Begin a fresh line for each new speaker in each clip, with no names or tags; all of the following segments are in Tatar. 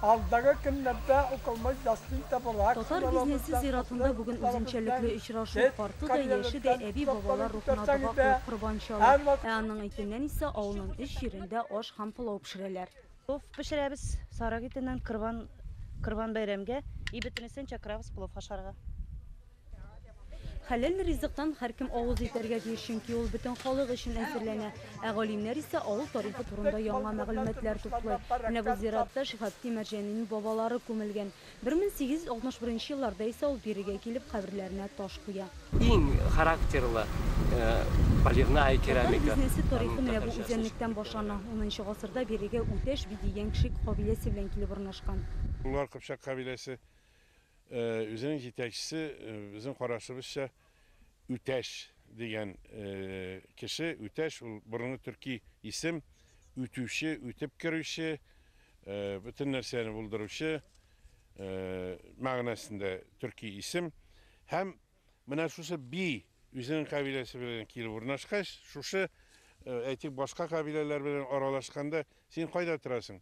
Алдагы көннәрдә укылмыш ястин табыла. Татар бизнесы зиратында бүген үзенчәлекле очрашу. Карты да, яше дә әби-бабалар рухына дога кылып корбан чала. Ә аның итеннән исә авылның өч җирендә аш һәм пылау пешерәләр. Плов пешерәбез сарык итеннән корбан корбан бәйрәмгә. И бөтенесен чакырабыз плов ашарга. Хәләл ризыктан һәркем авыз итәргә тиеш, чөнки ул бөтен халык өчен әзерләнә. Ә галимнәр исә авыл тарихы турында яңа мәгълүматлар туплый. Менә бу зиратта Шиһабтдин Мәрҗанинең бабалары күмелгән. 1861 елларда исә ул бирегә килеп каберләренә таш куя. Иң характерлы полевная керамика. Татар бизнесы тарихы менә бу үзәнлектән башлана. Унынчы гасырда бирегә Үтәш би дигән кшик кабиләсе белән килеп урнашкан. Болар кыпчак кабиләсе Үзенең җитәкчесе, безнең карашыбызча, Үтәш дигән кеше. Үтәш ул борынгы төрки исем, үтүче, үтеп керүче, бөтен нәрсәне булдыручы мәгънәсендә төрки исем. Һәм Менә шушы би үзенең кабиләсе белән килеп урнашкач, шушы, әйтик, башка кабиләләр белән аралашканда, син кайда торасың?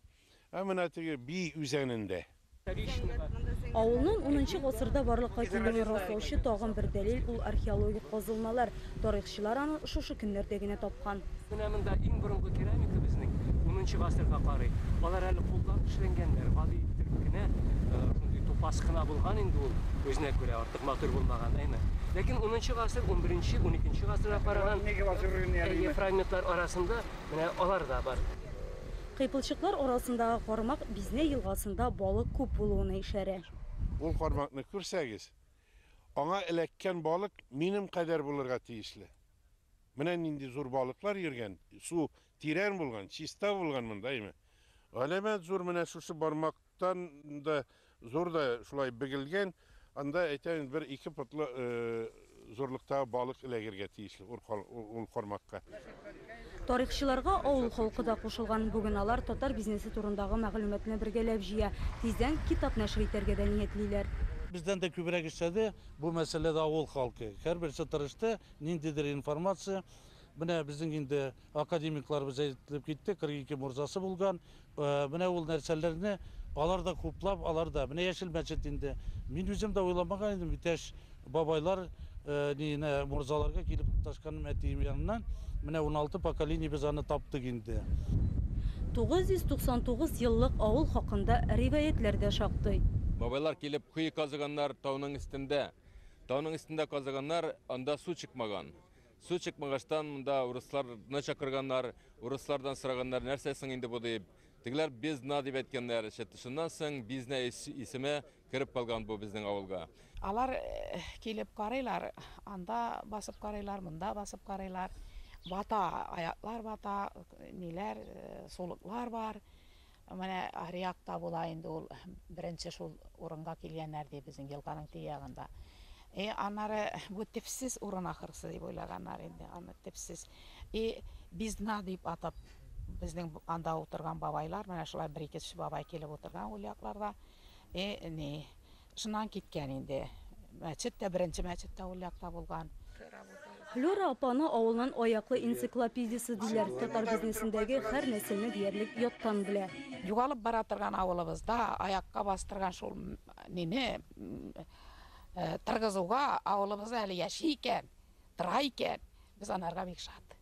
Ә менә теге би үзәнендә. Авылның унынчы гасырда барлыкка килүен раслаучы тагын бер дәлил, ул археологик казылмалар. Тарихчылар аны шушы көннәрдә генә тапкан. Менә монда иң борынгы керамика безнең унынчы гасырга карый. Алар әле кулдан эшләнгәннәр, гади иттереп кенә, шундый тупас кына булган инде ул, үзенә күрә, артык матур булмаган, әйме. Ләкин унынчы гасыр, унберенче, уникенче гасырга караган, әйе, фрагментлар арасында менә алар да бар. Кыйпылчыклар арасындагы кармак Бизне елгасында балык күп булуына ишарә. Ул кармакны күрсәгез, Аңа эләккән балык минем кадәр булырга тиешле. Менә нинди зур балыклар йөргән, су тирән булган, чиста булган монда, әйме. Галәмәт зур, менә шушы бармактан да зур да шулай бегелгән, анда, әйтәм, бер ике потлы зурлыктагы балык эләгергә тиеш. Ул кармакка. Тарихчыларга авыл халкы да кушылган. Бүген алар татар бизнесы турындагы мәгълүматны бергәләп җыя. Тиздән китап нәшер итәргә дә ниятлиләр. Бездән дә күбрәк эшләде бу мәсьәләдә авыл халкы. Һәрберсе тырышты, ниндидер информация. Менә безнең инде Академикларыбыз әйтелеп китте, 42 морзасы булган. Менә ул нәрсәләрне алар да хуплап, алар да. Менә Яшел мәчет инде. Мин үзем дә уйламаган идем, иптәш бабайлар ниенә морзаларга килеп тоташканым әтием яныннан. Менә 16 поколение без аны таптык инде. 999 еллык авыл хакында риваятьләр дә шактый. Бабайлар килеп кое казыганнар тауның өстендә. Тауның өстендә казыганнар, анда су чыкмаган. Су чыкмагачтан монда урысларны чакырганнар, урыслардан сораганнар, нәрсә соң инде бу дип. Тегеләр бездна дип әйткәннәр. Шуннан соң бизнә исеме кереп калган бу безнең авылга. Алар килеп карыйлар, анда басып карыйлар, монда басып карыйлар. Бата, аяклар бата, ниләр, сулыклар бар. Менә аръякта була инде ул, беренче шул урынга килгәннәр, ди, безнең елганың теге ягында. И аннары бу төпсез урын ахрысы дип уйлаганнар инде аны, төпсез. И Бизна дип атап, безнең анда утырган бабайлар, менә шулай бер-ике кеше бабай килеп утырган ул якларда. И ни, Шуннан киткән инде. Мәчет тә, беренче мәчет тә ул якта булган. Флера апаны авылның аяклы энциклопедиясе диләр. Татар бизнесындагы һәр нәрсәне диярлек яттан белә. Югалып бара торган авылыбызда аякка бастырган шул мине торгызуга, авылыбызда әле яши икән, тора икән, Без анарга бик шат.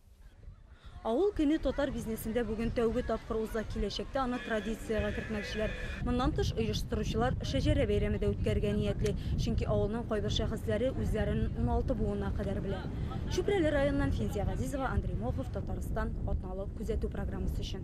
Авыл көне татар бизнесында бүген тәүге тапкыр уза, киләчәктә аны традициягә кертмәкчеләр. Моннан тыш, оештыручылар Шәҗәрә бәйрәме дә үткәрергә ниятли, чөнки авылның кайбер шәхесләре үзләрен уналты буына кадәр белә. Чүпрәле районыннан Финзия Газизова, Андрей Мохов, Татарстан, Атналык күзәтү программасы өчен.